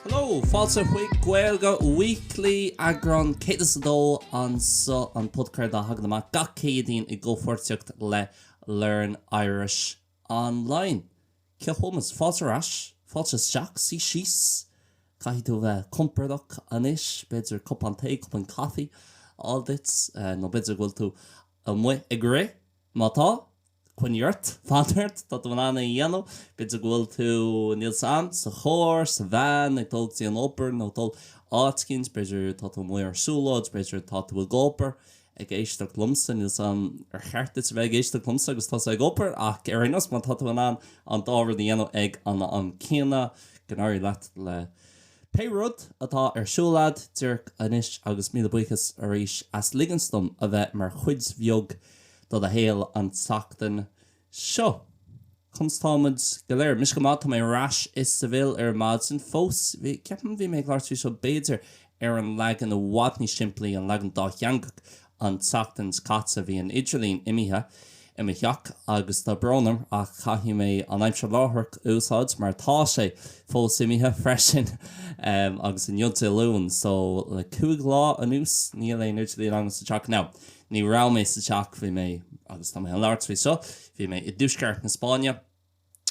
Hello! Fáilte chuig Gaeilge Weekly, eagrán 102 anseo, an podchraoladh a thagann amach gach Céadaoin i gcomhpháirtíocht le Learn Irish Online. Cill Chumas, fáilte ar ais, fáilte isteach, suí síos, caithfidh tú a bheith compordach anois, b'fhéidir cupán tae, cupán coffee a fháil duit, nó b'fhéidir go bhfuil tú amuigh ag rith, má tá, coinnigh ort, fan ort, tá tú in ann é a dhéanamh, b'fhéidir go bhfuil tú, níl 's agam, sa charr, sa veain, ag dul go dtí an obair nó ag dul áit éicint, b'fhéidir tá tú amuigh ar siúlóid, b'fhéidir tá tú ag obair, ag éisteacht liomsa, níl 's agam ar cheart duit a bheith ag éisteacht liomsa agus tusa ag obair ach ar aon nós má tá tú in ann an dá rud a dhéanamh ag an am céanna, go n-éirí leat le pé rud atá ar siúl agat díreach anois agus míle buíochas arís as ligint dom a bheith mar chuid bheag de do shaol an tseachtain seo. Conas atá muid go léir? Mise go maith, tá mé ar ais i Seville ar maidin. Fós, ceapaim, bhí mé ag labhairt faoi seo b'fhéidir ar an leagan i bhfad níos simplí, an leagan dátheangach, an tseachtain seo caite. Bhí an idirlíon imithe i mo theach agus tá brón orm ach caithfidh mé an aimsir láithreach a úsáid mar tá sé fós imithe freisin agus inniu Dé Luain so le cúig lá anuas níl aon idirlíon agam sa teach. Now. Ní raibh mé sa teach, bhí mé, agus tá mé chun labhairt faoi seo, bhí mé i dtuaisceart na Spáinne,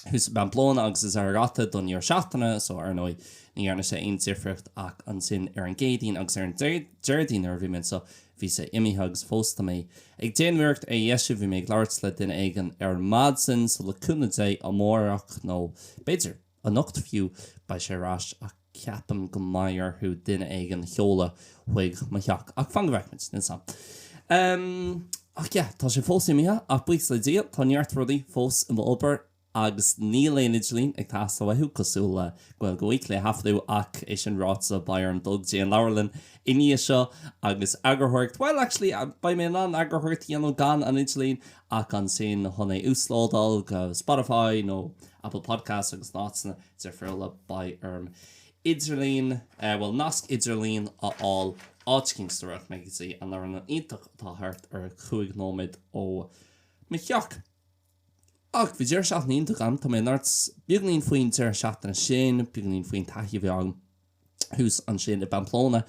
thuas i bPamplona agus i Zaragoza don deireadh seachtaine so ar ndóigh ní dhearna sé aon difríocht ach ansin ar an gCéadaoin agus ar an Déardaoin nuair a bhí mé anseo bhí sé imithe agus fós tá mé ag déanamh iarracht é a dheisiú, bhí mé ag labhairt le duine éigin ar maidin so le cúnamh Dé amárach nó b'fhéidir. Anocht fiú, beidh sé ar ais ach ceapaim go mbeidh orthu duine éigin a sheoladh chuig mo theach. Ach fan go bhfeicfimid, níl 's agam. Ach yeah, tá sé fós imithe ach buíochas le Dia, tá neart rudaí fós i m'obair agus níl aon idirlíon ag teastáil uathu, cosúil le Gaeilge Weekly a thaifeadadh ach é sin ráite, beidh orm dul go dtí an leabharlann i ndiaidh seo agus eagarthóireacht, bhuel, actually, beidh mé in ann eagarthóireacht a dhéanamh gan an idirlíon. ach ansin chun é uaslódáil go Spotify nó Apple Podcasts agus in áiteanna difriúla. Beidh orm idirlíon, bhuel nasc idirlíon a fháil áit éicint so rachaidh mé go dtí an leabharlann iontach atá thart ar chúig nóiméad ó mo theach. Ach bhí deireadh seachtaine iontach agam, tá mé chun labhairt beagainín faoin deireadh seachtaine sin, beagainín faoin taithí a bhí agam. thuas ansin i bPamplona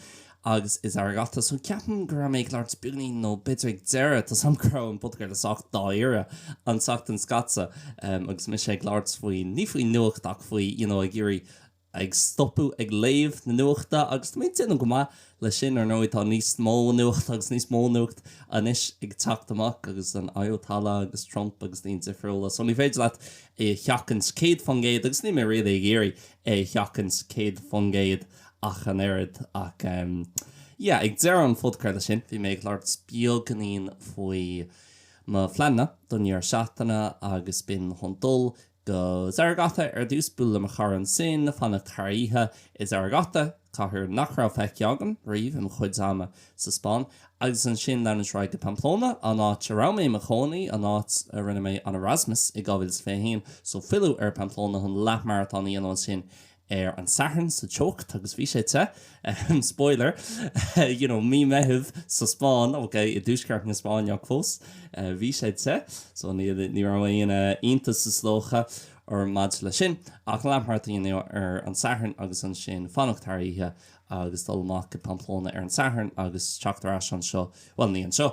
agus i Zaragoza so ceapaim go raibh mé ag labhairt beagainín nó b'fhéidir ag deireadh tá 's agam go raibh an podchraoladh sách dáiríre an tseachtain seo caite agus mise ag labhairt faoin, ní faoin nuacht ach faoi you know ag iarraidh ag stopadh ag léamh na nuachta agus tá mé ag déanamh go maith leis sin ar ndóigh tá níos mó nuacht agus níos mó nuacht anois ag teacht amach agus an Ayatollah agus Trump agus daoine difriúla so ní féidir leat é a sheachaint 100% agus níl mé really ag iarraidh é a sheachaint 100% ach an oiread ach em yeah ag deireadh an phodchraolta sin bhí mé ag labhairt beagainín faoi mo phleananna don dheireadh seachtaine agus b'in chun dul go Zaragoza ar dtús, bualadh le mo chara ansin, fanacht thar oíche i Zaragoza, cathair nach raibh feicthe agam riamh i mo chuid ama sa Spáinn, agus ansin leanúint ar aghaidh go Pamplona, an áit a raibh mé i mo chónaí, an áit a rinne mé an Erasmus i 2021. So filleadh ar Pamplona chun leath-maratón a dhéanamh ansin ar an Satharn sa teocht agus bhí sé te, spoiler, you know, mí Meitheamh sa Spáinn, ok, i dtuaisceart na Spáinne ach fós, bhí sé te. So ní raibh aon iontas is dócha orm maidir leis sin. Ach leath-maratón a dhéanamh ar an Satharn agus ansin fanacht thar oíche agus dul amach i Pamplona ar an Satharn agus teacht ar ais anseo, bhuel ní anseo,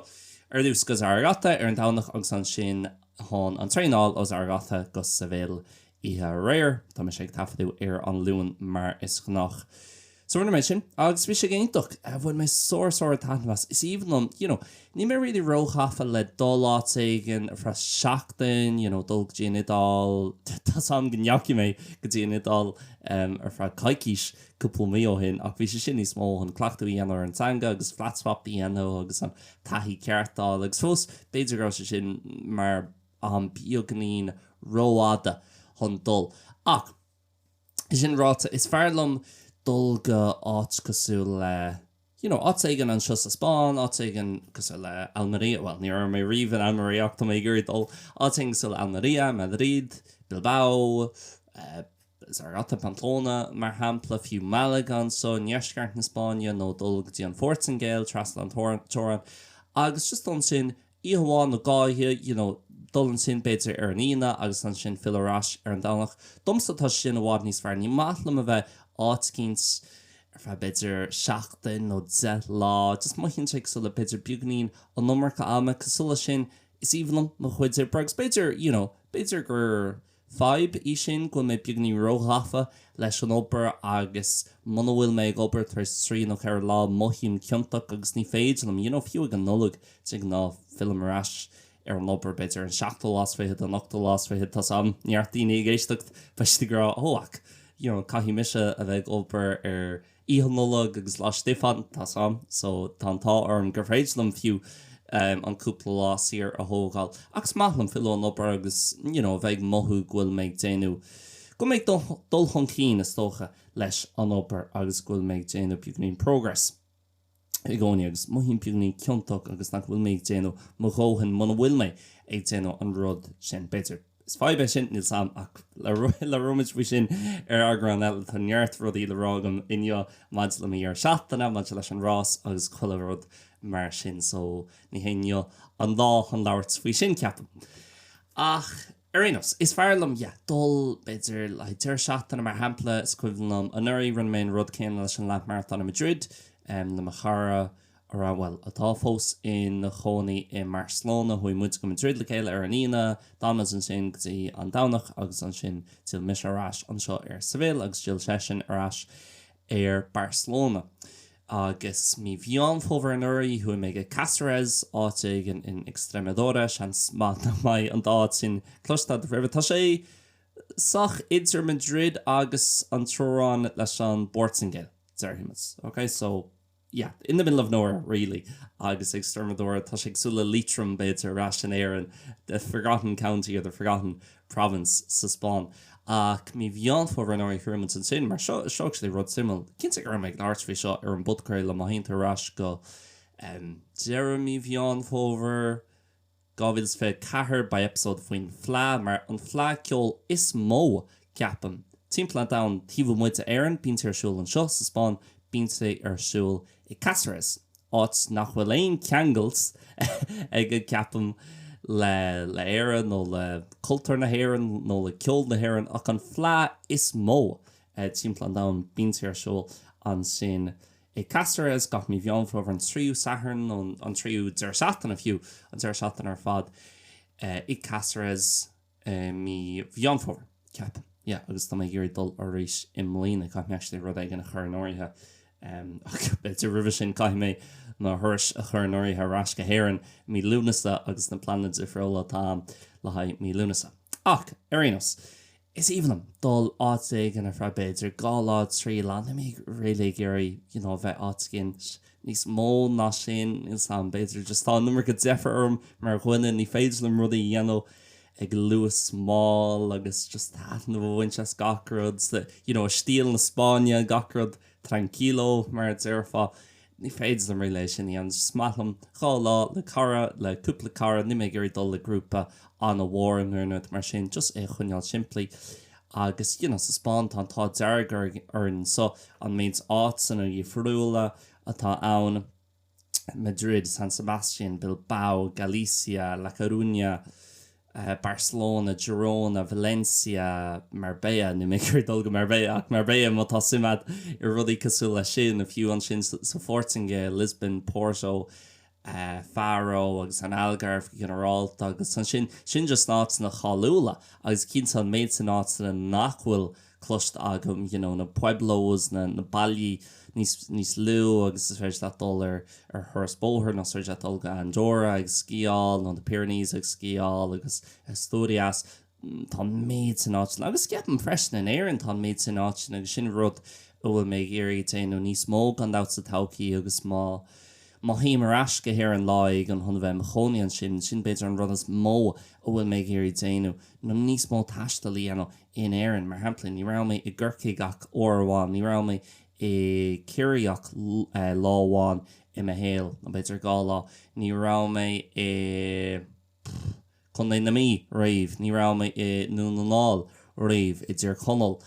ar dtús go Zaragoza ar an Domhnach agus ansin chun an traein a fháil ó Zaragoza go Seville oíche aréir, tá mise ag taifeadadh ar an Luan mar is gnách. So rinne mé sin agus bhí sé go hiontach, bhain mé sár sár taitneamh as, is aoibhinn liom, you know, níl mé really róghafa le dul áit éigin ar feadh seachtain, you know, dul go dtí an Iodáil, tá's a'm go ndeachaigh mé go dtí an Iodáil ar feadh coicís, cúpla mí ó shin ach bhí sé sin níos mó chun cleachtadh a dhéanamh ar an teanga agus flat swap a dhéanamh agus an taithí ceart a fháil agus fós b'fhéidir go raibh sé sin mar am beagainín rófhada chun dul ach é sin ráite is fearr liom dul go áit cosúil le. you know áit éigin anseo sa Spáinn, áit éigin cosúil le Almeria, bhuel ní raibh mé riamh in Almeria ach tá mé ag iarraidh dul, áit éigin cosúil le Almeria, Madrid, Bilbao, Zaragoza, Pamplona mar shampla, fiú Malaga anseo i ndeisceart na Spáinne nó dul go dtí an Phortaingéil trasna an teorann agus just ansin oíche amháin nó dhá oíche you know dul ansin b'fhéidir ar an Aoine agus ansin filleadh ar ais ar an Domhnach. Domsa tá sé sin i bhfad níos fearr. Ní maith liom a bheith áit eicínt ar feadh b'fhéidir seachtain nó deich lá just mothaíonn sé cosúil le b'fhéidir beagainín an iomarca ama cosúil leis sin is aoibhinn liom mo chuid oibre agus b'fhéidir you know b'fhéidir gur Fadhb í sin go bhfuil mé beagainín róghafa leis an obair agus muna bhfuil mé ag obair tar éis trí nó ceithre lá mothaím ciontach agus ní féidir liom, you know, fiú ag an Nollaig de ghnáth fillim ar ais ar an obair b'fhéidir ar an seachtú lá is fichead, an ochtú lá is fichead, tá's a'm neart daoine ag éisteacht, beidh siad ag rá, oh ach, you know, caithfidh mise a bheith ag obair ar. Oíche Nollag agus Lá Stiofáin, tá's a'm, so tá an t-ádh orm gur féidir liom fiú an cúpla lá saor a thógáil. Ach is maith liom filleadh ar an obair agus you know a bheith ag mothú go bhfuil mé ag déanamh, go bhfuil mé ag dul chun cinn is dócha leis an obair agus go bhfuil mé ag déanamh beagainín progress. i gcónaí agus mothaím beagainín ciontach agus nach bhfuil mé ag déanamh mo dhóthain muna bhfuil mé ag déanamh an rud sin. B'fhéidir is fadhb é sin, níl a fhios agam ach labhróimid faoi sin ar eagrán eile. Tá neart rudaí le rá agam inniu maidir le mo dheireadh seachtaine, maidir leis an rás agus chuile rud mar sin so ní hé inniu an lá chun labhairt faoi sin, ceapaim. Ach. Ar aon nós, is fearr liom, yeah, dul, b'fhéidir, le haghaidh deireadh seachtaine, mar shampla. Is cuimhin liom anuraidh, rinne mé an rud céanna leis an leathmharatón i Madrid le mo chara a raibh, bhuel, atá fós ina chónaí i mBarcelona. Chuaigh muid go Madrid le chéile ar an Aoine, d'fhan muid ansin go dtí an Domhnach agus ansin d'fhill mise ar ais anseo ar Seville agus d'fhill seisean ar ais ar Barcelona. Agus mí Mheán Fómhair anuraidh, chuaigh mé chuig Cáceres, áit éigin in Extremadura, seans maith nach mbeidh an dá áit sin cloiste agaibh roimhe. Tá sé sách idir Madrid agus an teorainn leis an bPortaingéil, déarfaidh muid. Ok, so, yeah, in the middle of nowhere, really. Agus Extremadura, tá sé cosúil le Liatroim, b'fhéidir, ar ais in Éirinn, the forgotten county or the forgotten province sa Spáinn. Ach mí Mheán Fómhair anuraidh chuaigh mé ansin, mar seo, seo é rud suimiúil. Cinnte go raibh mé ag labhairt faoi seo ar an bpodchraoladh. Má théann tú ar ais go deireadh mí Mheán Fómhair 2024, beidh eipeasóid faoin Fleadh mar an fleadh ceoil is mó, ceapaim, timpeall an domhain taobh amuigh d'Éirinn. Bíonn sé ar siúl anseo sa Spáinn, bíonn sé ar siúl i gCaceres, áit nach bhfuil aon cheangal aige, ceapaim, le hÉire nó le cultúr na hÉireann nó le ceol na hÉireann ach an fleadh is mó timpeall an domhain. Bíonn sé ar siúl ansin i gCaceres gach mí Mheán Fómhair, an tríú Satharn nó an tríú deireadh seachtaine fiú, an deireadh seachtaine ar fad i gCaceres. i mí Mheán Fómhair, ceapaim. Yeah, agus tá mé ag iarraidh dul arís i mbliana. Caithfidh mé actually rud éigin a chur in áirithe, em, ach b'fhéidir roimhe sin caithfidh mé mo thuras a chur in áirithe ar ais go hÉirinn i mí Lúnasa agus na pleananna difriúla atá a'm le haghaidh mí Lúnasa. Ach, ar aon nós, is aoibhinn liom dul áit éigin ar feadh b'fhéidir dhá lá, trí lá. Níl mé really ag iarraidh, you know, bheith áit éigin. Níos mó ná sin, níl a fhios a'm, b'fhéidir just tá an iomarca deifir orm mar dhuine, ní féidir liom rudaí a dhéanamh ag luas mall agus just taitneamh a bhaint as gach rud sa, you know, i stíl na Spáinne, gach rud tranquilo mar a déarfá. Ní féidir liom really é sin a dhéanamh. Is just maith liom dhá lá le cara, le cúpla cara, níl mé ag iarraidh dul le grúpa an-mhór nó aon rud mar sin, just é a choinneáil simplí. Agus you know sa Spáinn tá an t-ádh dearg orainn so an méid áiteanna difriúla atá ann, Madrid, San Sebastian, Bilbao, Galicia, La Coruña, Barcelona, Girona, Valencia, Marbella, níl mé ag iarraidh dul go Marbella ach Marbella má tá suim agat i rudaí cosúil leis sin, agus fiú ansin sa Phortaingéil, Lisbon, Porto. Faro agus an Algarve go ginearálta agus ansin sin just áiteanna cáiliúla agus cinnte an méid sin áiteanna nach bhfuil cloiste agam you know na pueblos na na baili níos lú agus is féidir leat dul ar ar thuras bóthair nó is féidir leat dul go Andorra agus sciáil nó na Pyrenees agus sciáil agus Asturias Tá an méid sin áiteanna, agus ceapaim freisin in Éirinn, tá an méid sin áiteanna agus sin rud a bhfuil mé ag iarraidh déanamh níos mó gan dabht sa todhchaí agus má má théim ar ais go hÉirinn lá éigin chun a bheith i mo chónaí ansin, sin b'fhéidir an rud is mó a bhfuil mé ag iarraidh déanamh, nó níos mó taistil a dhéanamh in Éirinn. Mar shampla, ní raibh mé i gCorcaigh ach uair amháin, ní raibh mé i Ciarraí ach lá amháin i mo shaol, nó b'fhéidir dhá lá, ní raibh mé i. Contae na Mí, riamh. Ní raibh mé i nDún na nGall, riamh. I dTír Chonaill.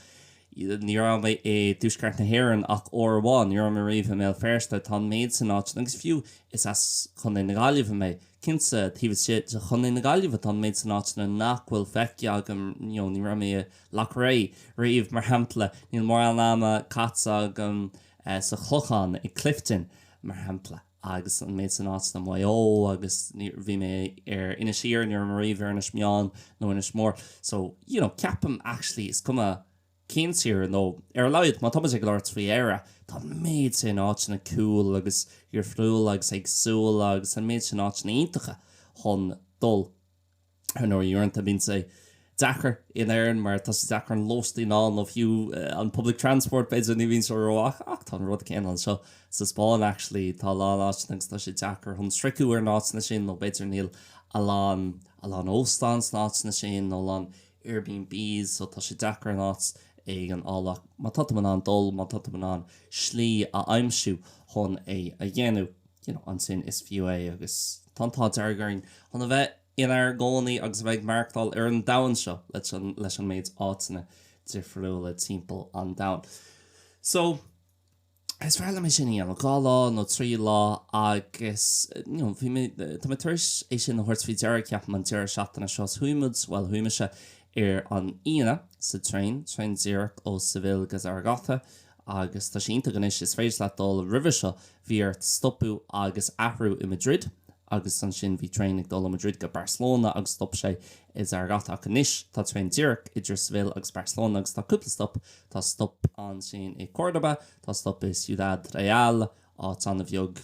Ní raibh mé i dTuaisceart na hÉireann ach uair amháin. Ní raibh mé riamh i mBéal Feirste. Tá an méid sin áiteanna, agus fiú is as Contae na Gaillimhe mé, cinnte, taobh istigh de Chontae na Gaillimhe, tá an méid sin áiteanna nach bhfuil feicthe agam, you know, ní raibh mé i Loughrea riamh, mar shampla. Níl mórán ama caite agam sa Chlochán, i Clifden, mar shampla. agus an méid san áiteanna Maigh Eo agus bhí mé ar Inis Oírr, ní raibh mé riamh ar Inis Meáin nó Inis Mór. So, you know, ceapaim actually is cuma cén tír nó ar a laghad má tá muid ag labhairt faoi Éire, tá an méid sin áiteanna cool agus difriúla agus éagsúla agus an méid sin áiteanna iontacha chun dul. Ar ndóigh, uaireanta bíonn sé deacair in Éirinn mar tá sé deacair an lóistín a fháil nó fiú an public transport b'fhéidir ní bhíonn sé ró ach ach tá an rud céanna anseo sa Spáinn actually tá a lán áiteanna agus tá sé deacair chun sroicheadh ar na áiteanna sin nó b'fhéidir níl a lán a lán óstán sna áiteanna sin nó a lán Airbnbs so tá sé deacair an áit éigin a fháil ach má tá muid in ann dul má tá muid in ann slí a aimsiú chun é a dhéanamh. you know ansin is fiú é agus tá an t-ádh dearg orainn chun a bheith inár gcónaí agus a bheith ag maireachtáil ar an domhan seo leis an leis an méid áiteanna difriúla timpeall an domhain so is fearr liom é sin a dhéanamh dhá lá nó trí lá agus you know bhí mé tá mé tar éis é sin a thabhairt faoi deara ceapaim an deireadh seachtaine seo is chuaigh muid bhuel chuaigh mise ar an Aoine sa traein, traein díreach ó Seville go Zaragoza Agus tá sé iontach anois, is féidir leat dul. Roimhe seo bhí ort stopadh agus athrú i Madrid agus ansin bhí traein ag dul ó Madrid go Barcelona agus stop sé i Zaragoza. Ach anois tá traein díreach idir Seville agus Barcelona agus tá cúpla stop, tá stop ansin i Córdoba, tá stop i Ciudad Real, áit an-bheag.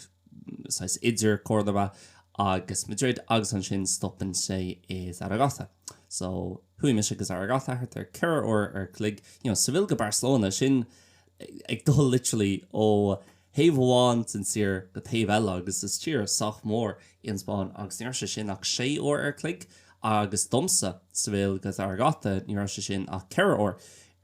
saghas idir Cordoba agus Madrid agus ansin stopann sé i Zaragoza so chuaigh mise go Zaragoza thart ar 4 uair an chloig you know Seville go Barcelona sin ag dul literally ó thaobh amháin den tír go taobh eile agus is tír sách mór í an Spáinn agus ní raibh sé sin ach 6 uair an chloig agus domsa Seville go Zaragoza ní raibh sé sin ach 4 uair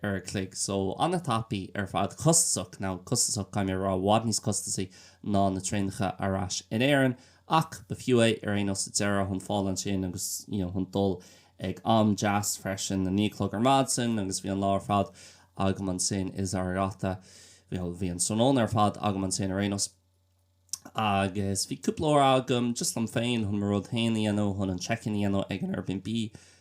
an chloig, so an-tapaidh ar fad, costasach, now costasach caithfidh mé a rá, i bhfad níos costasaí ná na traenacha ar ais in Éirinn ach ba fiú é ar aon nós sa deireadh, chun fáil ansin agus you know chun dul ag am deas freisin, a naoi a chlog ar maidin agus bhí an lá ar fad agam ansin i Zaragoza, bhí an tráthnóna ar fad agam ansin ar aon nós. agus bhí cúpla uair agam just liom féin chun mo rud féin a dhéanamh, chun an check-in a dhéanamh ag an Airbnb,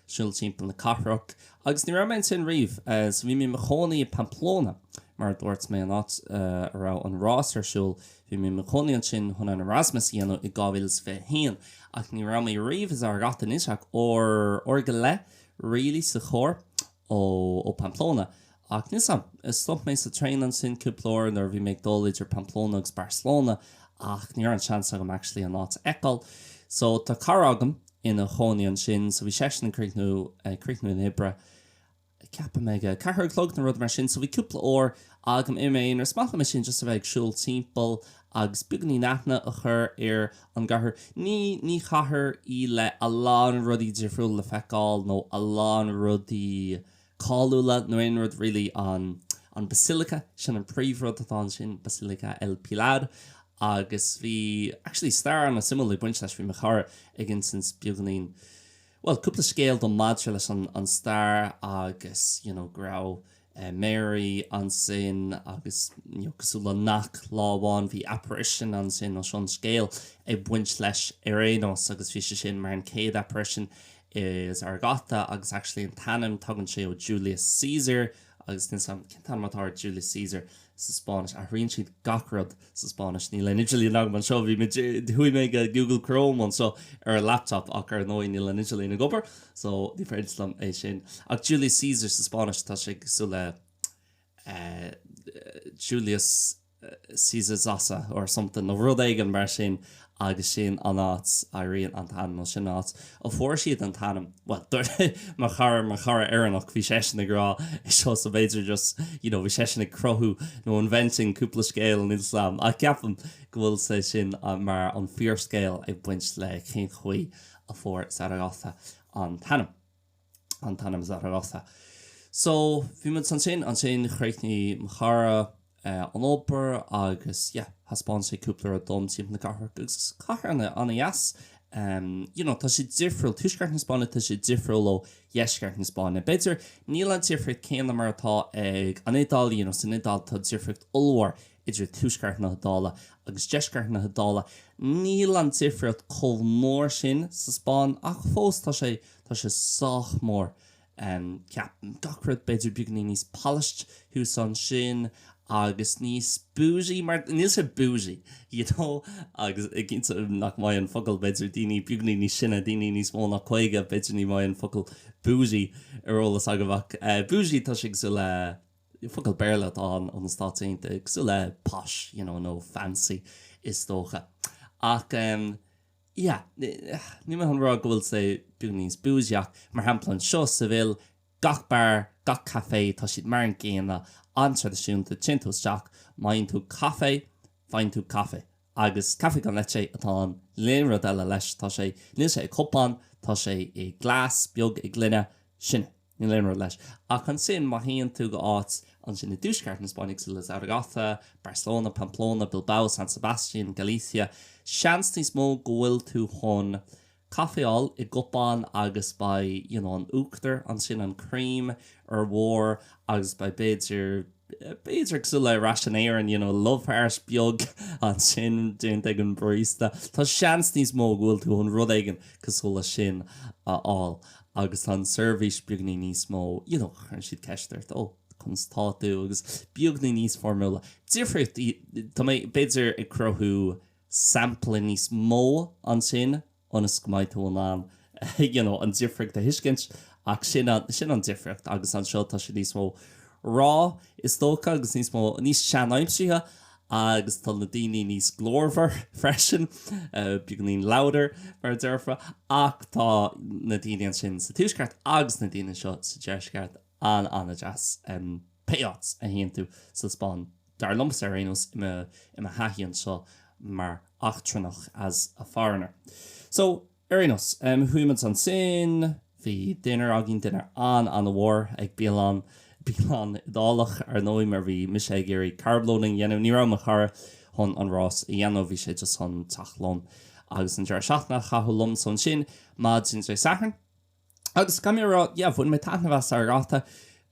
siúl timpeall na cathrach agus ní raibh mé ansin riamh. So bhí mé i mo chónaí i Pamplona, mar a dúirt mé, an áit a raibh an rás ar siúl, bhí mé i mo chónaí ansin chun an Erasmus a dhéanamh i 2021 ach ní raibh mé riamh i Zaragoza, níl sé ach uair go leith really sa charr ó Pamplona. Ach níl 's agam. Stop mé sa traein ansin cúpla uair nuair a bhí mé ag dul idir Pamplona agus Barcelona ach ní raibh an seans agam actually an áit a fheiceáil. So tá cara agam ina chónaí ansin so bhí seisean ag críochnú, ag críochnú na hoibre ceapaim ag a ceathair a chlog nó rud mar sin so bhí cúpla uair agam i m'aonar. Is maith liom é sin just a bheith ag siúl timpeall agus beagáinín aithne a chur ar an gcathair. Ní ní chathair í le a lán rudaí difriúla le feiceáil nó a lán rudaí cáiliúla nó aon rud really. An an Basilica, sin an príomh rud atá ansin, Basilica El Pilar agus bhí actually stair an-suimiúil ag baint leis, bhí mo chara ag insint beagáinín bhuel cúpla scéal dom maidir leis an an stair agus you know go raibh, Mary, Ansin agus cosúil le Knock lá amháin bhí apparition ansin nó sin an scéal ag baint leis ar aon nós agus bhí sé sin mar an céad apparition i Zaragoza agus actually an t-ainm tagann sé ó Julius Caesar agus níl 'sam cén t-ainm atá ar Julius Caesar sa Spáinnis. Athraíonn siad gach rud sa Spáinnis. Níl aon idirlíon agam anseo. Bhí, chuaigh mé go Google Chrome anseo ar an laptop ach ar ndóigh níl an idirlíon ag obair so ní féidir liom é sin. Ach Julius Caesar sa Spáinnis tá sé cosúil le eh Julius Caesar Zara or something nó rud éigin mar sin. agus sin an áit a éiríonn an t-ainm nó sin an áit a fuair siad an t-ainm bhuel dúirt mo chara mo chara Éireannach bhí seisean ag rá é seo so b'fhéidir just you know bhí seisean ag cruthú nó inventing cúpla scéal inis dom ach ceapaim go bhfuil sé sin mar an fíorscéal ag baint le cén chaoi a fuair Zaragoza an t-ainm. an t-ainm Zaragoza. So, bhí muid ansin, ansin chríochnaigh mo chara an obair agus yeah, thaispeáin sé cúpla rud dom timpeall na cathrach agus is cathair ana, ana dheas em, you know tá sé difriúil, tuaisceart na Spáinne tá sé difriúil ó dheisceart na Spáinne, b'fhéidir níl an difríocht céanna mar atá ag an Iodáil, you know san Iodáil tá difríocht ollmhór idir tuaisceart na hIodáile agus deisceart na hIodáile, níl an difríocht chomh mór sin sa Spáinn ach fós tá sé. Tá sé sách mór. Ceapaim gach rud b'fhéidir beagainín níos polished thuas ansin agus níos boujee mar níl sé boujee you know agus cinnte nach mbeidh an focal b'fhéidir daoine beagainín níos sine, daoine níos mó ná caoga b'fhéidir ní bheidh an focal boujee ar eolas agaibh ach boujee tá sé cosúil le, focal Béarla atá ann ó na Stáit Aontaithe, cosúil le posh you know nó fancy is dócha. Ach em. yeah, níl mé chun rá go bhfuil sé beagainín níos bougie ach mar shampla anseo Seville, gach beár, gach café, tá siad mar an gcéanna, an-traidisiúnta, téann tú isteach, mian leat caife, faigheann tú caife. Agus café con leche atá ann, níl aon rud eile leis, tá sé, níl sé i gcupán, tá sé i glas, beag, i gloine, sin é. Níl aon rud leis. Ach ansin, má théann tú go áit ansin i dtuaisceart na Spáinne cosúil le Zaragoza, Barcelona, Pamplona, Bilbao, San Sebastian, Galicia, seans níos mó go bhfuil tú chun caife fháil i gcupán agus beidh you know an uachtar ansin, an cream ar bharr agus beidh b'fhéidir. b'fhéidir cosúil le ar ais in Éirinn you know love heart beag ansin déanta ag an barista tá seans níos mó go bhfuil tú chun rud éigin cosúil leis sin a fháil agus tá an seirbhís beagainín níos mó you know cuireann siad ceist ort oh conas atá tú agus beagainín níos foirmiúla difríocht í tá mé b'fhéidir ag cruthú sampla níos mó ansin ionas go mbeidh tú in ann you know an difríocht a thuiscint ach sin an difríocht agus anseo tá sé níos mó raw is dócha agus níos mó níos seanaimseartha agus tá na daoine níos glórmhar freisin beagainín louder mar a déarfá ach tá na daoine ansin sa tuaisceart agus na daoine anseo sa deisceart an-an-deas pé áit a théann tú sa Spáinn. Dar liomsa, ar aon nós, i mo thaithí anseo mar eachtrannach, as a foreigner. So, ar aon nós, chuaigh muid ansin, bhí dinnéar againn, dinnéar an-an-mhór ag bialann, bialann Iodálach, ar ndóigh, mar bhí mise ag iarraidh carb loading a dhéanamh, ní raibh mo chara chun an rás a dhéanamh, bhí sé just chun teacht liom agus an deireadh seachtaine a chaitheamh liom. So ansin, maidin Dé Sathairn, Agus caithfidh mé a rá, yeah, bhain mé taitneamh as Zaragoza.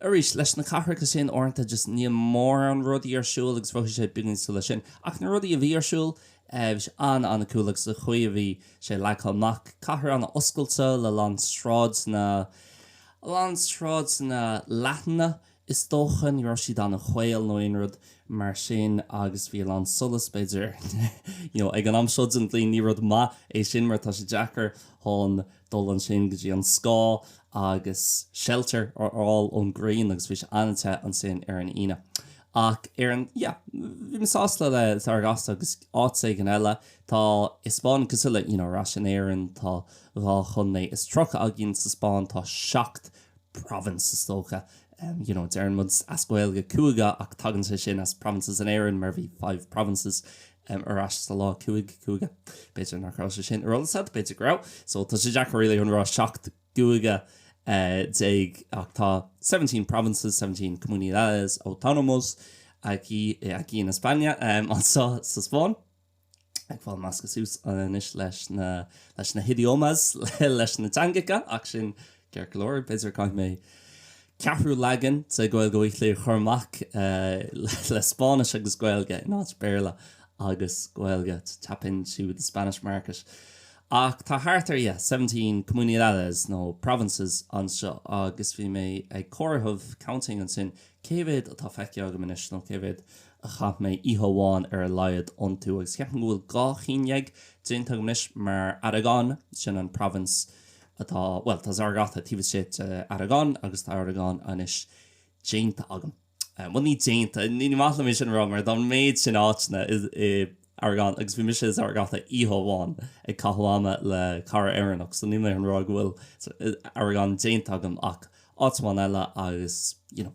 Arís, leis na cathracha sin uaireanta just níl mórán rudaí ar siúl agus bhraith sé beagáinín ciúin leis sin. Ach na rudaí a bhí ar siúl, eh, bhí sé an-an-cool agus an chaoi a bhí sé leagtha amach, cathair an-oscailte le a lán sráideanna, a lán sráideanna leathana, Is dócha ní raibh siad an-chaol nó aon rud mar sin agus bhí a lán solas b'fhéidir you know ag an am seo den bhliain. Ní rud maith é sin mar tá sé deacair chun dul ansin go dtí an scáth agus shelter a fháil ón ghrian agus bhí sé an-te ansin ar an Aoine. Ach ar an yeah bhí mé sásta le Zaragoza agus áit éigin eile. Tá an Spáinn cosúil le you know ar ais in Éirinn tá dhá chontae is tríocha againn sa Spáinn tá seacht provinces is dócha. You know deireann muid as Gaeilge cúige ach tagann sé sin as provinces in Éirinn mar bhí five provinces ar ais sa lá cúig cúige. B'fhéidir nach raibh sé sin ar eolas agat b'fhéidir go raibh so tá sé deacair really a rá seacht cúige déag ach tá seventeen provinces seventeen comunidades autónomas aquí aquí en España anseo sa Spáinn. ag fáil meascaithe suas anois leis na, leis na hidiomas, leis na teangacha, ach sin ceart go leor, b'fhéidir caithfidh mé ceathrú leagan de Gaeilge Weekly a chur amach le Spáinnis agus Gaeilge in áit Béarla agus Gaeilge, to tap into the Spanish market. Ach tá thart ar, yeah, seventeen comunidades nó provinces anseo agus bhí mé ag comhaireamh, counting, ansin cé mhéad atá feicthe agam anois nó cé mhéad a chaith mé oíche amháin ar a laghad iontu agus ceapaim go bhfuil dhá cheann déag déanta agam anois mar Aragon, sin an province atá, bhuel tá Zaragoza taobh istigh de Aragon agus tá Aragon anois déanta agam. Bhuel ní déanta, ní maith liom é sin a rá mar tá an méid sin áiteanna in Aragon agus bhí mise i Zaragoza oíche amháin ag caitheamh ama le cara Éireannach so níl mé chun a rá go bhfuil Aragon déanta agam ach áit amháin eile agus, you know,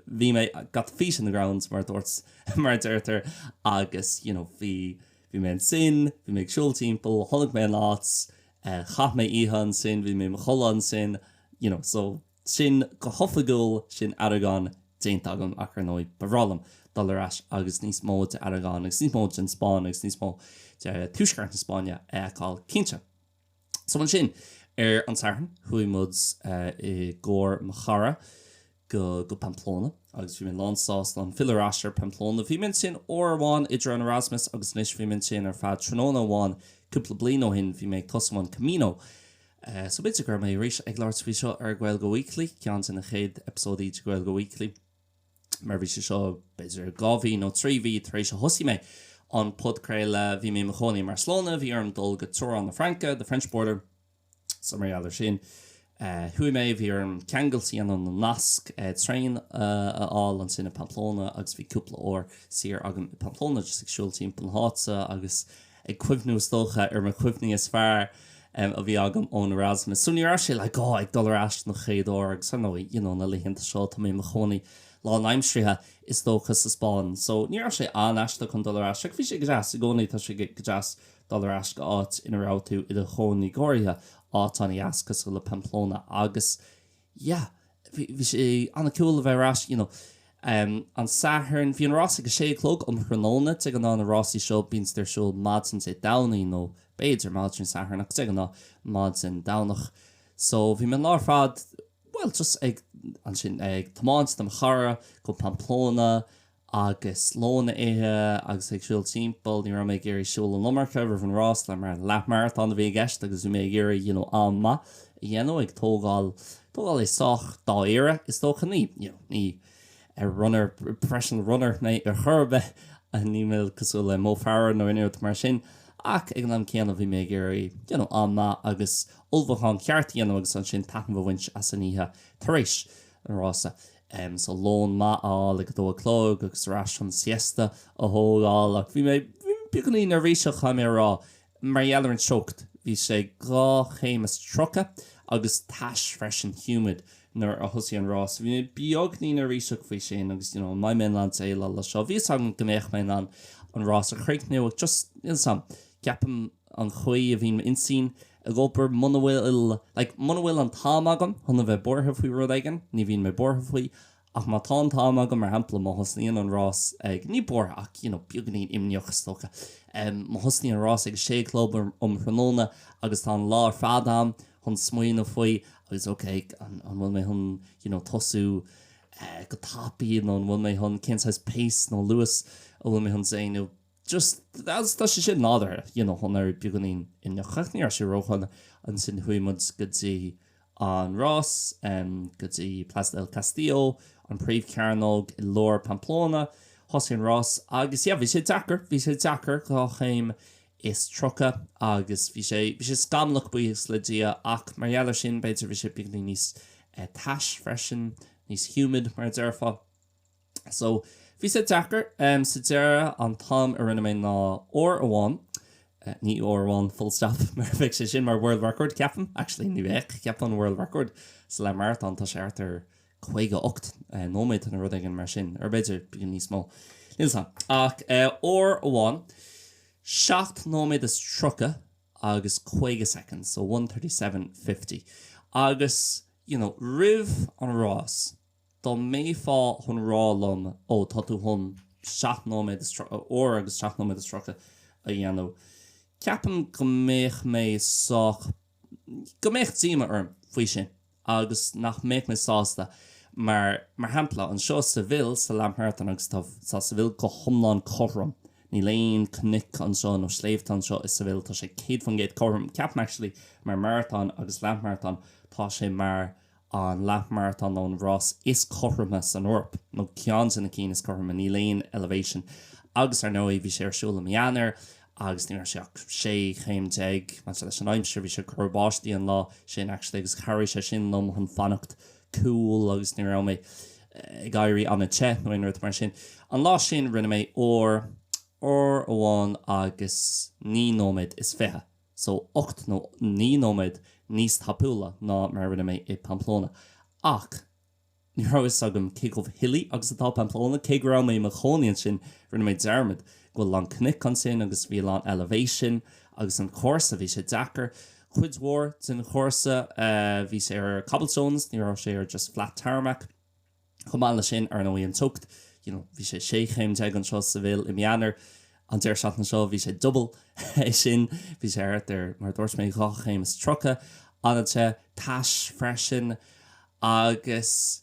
bhí mé got the feet in the ground mar a dúirt, mar a deirtear agus you know bhí, bhí mé ansin, bhí mé ag siúl timpeall, chonaic mé an áit, chaith mé oíche ansin, bhí mé i mo chodladh ansin, you know so sin go hoifigiúil sin Aragon déanta agam ach ar ndóigh ba bhreá liom dul ar ais agus níos mó de Aragon agus níos mó den Spáinn agus níos mó de Tuaisceart na Spáinne a fheiceáil cinnte. So ansin, ar an Satharn, chuaigh muid i gcarr mo chara go Pamplona agus bhí mé lán sásta chun filleadh ar ais ar Pamplona. Bhí mé ansin uair amháin idir an Erasmus agus anois bhí mé ansin ar feadh tráthnóna amháin cúpla bliain ó shin, bhí mé ag tosú an Camino. So b'fhéidir go raibh mé tar éis ag labhairt faoi seo ar Gaeilge Weekly, ceann de na chéad eipeasóidí de Gaeilge Weekly. mar bhí sé seo b'fhéidir dhá mhí nó trí mhí tar éis a thosaigh mé an podchraoladh. Bhí mé i mo chónaí i mBarcelona, bhí orm dul go teorainn na Fraince, the French border, so mar gheall ar sin chuaigh mé, bhí orm ceangailt a dhéanamh nó nasc traein a fháil, ansin i Pamplona agus bhí cúpla uair saor agam i Pamplona just ag siúl timpeall na háite agus eh. ag cuimhniú is dócha ar mo chuimhní is fearr a bhí agam ón Erasmus. So ní raibh sé like oh ag dul ar ais don chéad uair agus ar ndóigh you know na laethanta seo tá mé i mo chónaí lán aimseartha is dócha sa Spáinn so ní raibh sé an-aisteach chun dul ar ais like bhí sé go deas i gcónaí tá sé go deas dul ar ais go áit ina raibh tú i do chónaí go háirithe áit an-deas cosúil le Pamplona agus Yeah, bhí, bhí sé an-cool a bheith ar ais, you know. Um, an Satharn, bhí an rás ag a sé a chlog um thráthnóna, de ghnáth na rásaí seo bíonn siad ar siúl maidin Dé Domhnaigh nó b'fhéidir maidin Dé Sathairn ach de ghnáth maidin Domhnach. So bhí mé an lá ar fad, bhuel just ag, ansin, ag tiomáint le mo chara go Pamplona agus lón a ithe agus ag siúl timpeall. Ní raibh mé ag iarraidh siúl an iomarca roimh an rás mar leathmharatón a bhí i gceist agus bhí mé ag iarraidh you know am maith a dhéanamh ag tógáil tógáil é sách dáiríre is dócha. Ní you know ní runner professional runner mé ar chor ar bith and ní mé cosúil le Mo Farah nó aon rud mar sin ach ag an am céanna bhí mé ag iarraidh you know am maith agus ullmhúchán ceart a dhéanamh agus ansin taitneamh a bhaint as an oíche tar éis an rása. em so lón maith a fháil ag a dó a chlog agus ar ais chun siesta a thógáil ach bhí mé beagáinín neirbhíseach caithfidh mé a rá mar gheall ar an teocht bhí sé dhá chéim is tríocha agus tais freisin humid nuair a thosaigh an rás so bhí mé beagáinín neirbhíseach faoi sin agus you know an mbeidh mé in ann déileáil leis seo bhí a fhios agam go mbeadh mé in ann an rás a chríochnú ach just you know sam ceapaim an chaoi a bhíonn m'intinn ag obair muna bhfuil, like, muna bhfuil an t-am agam chun a bheith buartha faoi rud éigin, ní bhíonn mé buartha faoi, ach má tá an t-am agam, mar shampla, má thosnaíonn an rás ag, ní buartha ach, you know, beagainín imníoch is dócha, em, má thosnaíonn an rás ag a sé a chlog um thráthnóna agus tá an lá ar fad a'm chun smaoineamh faoi agus, okay, an, an bhfuil mé chun, you know, tosú, eh, go tapaidh nó an bhfuil mé chun, cén saghas pace nó luas a bhfuil mé chun déanamh? just as tá sé sin nádúrtha you know chun éirí beagáinín imníoch ach ní raibh sé ródhona ansin chuaigh muid go dtí an rás em go dtí Plaza del Castillo an príomhchearnóg i lár Pamplona thosaigh an rás agus yeah bhí sé deacair bhí sé deacair dhá chéim is tríocha agus bhí sé bhí sé scamallach buíochas le Dia ach mar gheall air sin b'fhéidir bhí sé beagáinín níos eh tais freisin níos humid mar a déarfá So, bhí sé deacair. Sa deireadh, an t-am a rinne mé ná uair amháin, ní uair amháin full stop mar bheadh sé sin mar world record, ceapaim. Actually, ní bheadh, ceapaim an world record sa leath maratón, tá sé thart ar caoga ocht nóiméad nó rud éigin mar sin, or b'fhéidir bíonn níos mó, níl 's 'am. Ach uair amháin, seacht nóiméad is tríocha agus caoga soicind, so one thirty seven fifty. Agus, you know, roimh an rás, Dá mbeifeá chun rá liom, 'Ó, tá tú chun seacht nóiméad is tríocha, uair agus seacht nóiméad is tríocha a dhéanamh, ceapaim go mbeadh mé sách, go mbeadh díomá orm faoi sin agus nach mbeadh mé sásta. Mar, mar shampla, anseo i Seville, sa leathmaratón agus tá, tá Seville go hiomlán cothrom. Níl aon cnoic anseo nó sléibhte anseo i Seville, tá sé céad faoin gcéad cothrom. Ceapaim actually mar maratón agus leathmaratón, tá sé mar an leathmaratón nó an rás is cothroime san Eoraip, nó ceann de na cinn is cothroime, níl aon Elevation agus ar ndóigh bhí sé ar siúl i mí Eanáir agus ní raibh sé ach 16 chéim. Maidir leis an aimsir, bhí sé ag cur báistí an lá sin actually agus chabhraigh sé sin liom chun fanacht cool agus ní raibh mé ag éirí an-te nó aon rud mar sin. An lá sin rinne mé uair, uair amháin agus naoi nóiméad is fiche. so ocht nó naoi nóiméad níos tapúla ná mar a rinne mé i Pamplona. Ach ní raibh fhios agam cé chomh hilly agus atá Pamplona, cé go raibh mé i mo chónaí ansin rinne mé dearmad go bhfuil a lán cnoic ansin agus bhí a lán elevation agus an chúrsa, bhí sé deacair. Cuid mhór den chúrsa bhí sé ar cobblestones, ní raibh sé ar just flat tarmac. Chomh maith leis sin, ar ndóigh, an teocht, you know, bhí sé sé chéim déag anseo i Seville i mí Eanáir, an deireadh seachtaine seo bhí sé double é sin, bhí sé thart ar, mar a dúirt mé, dhá chéim is tríocha, an-te, tais freisin agus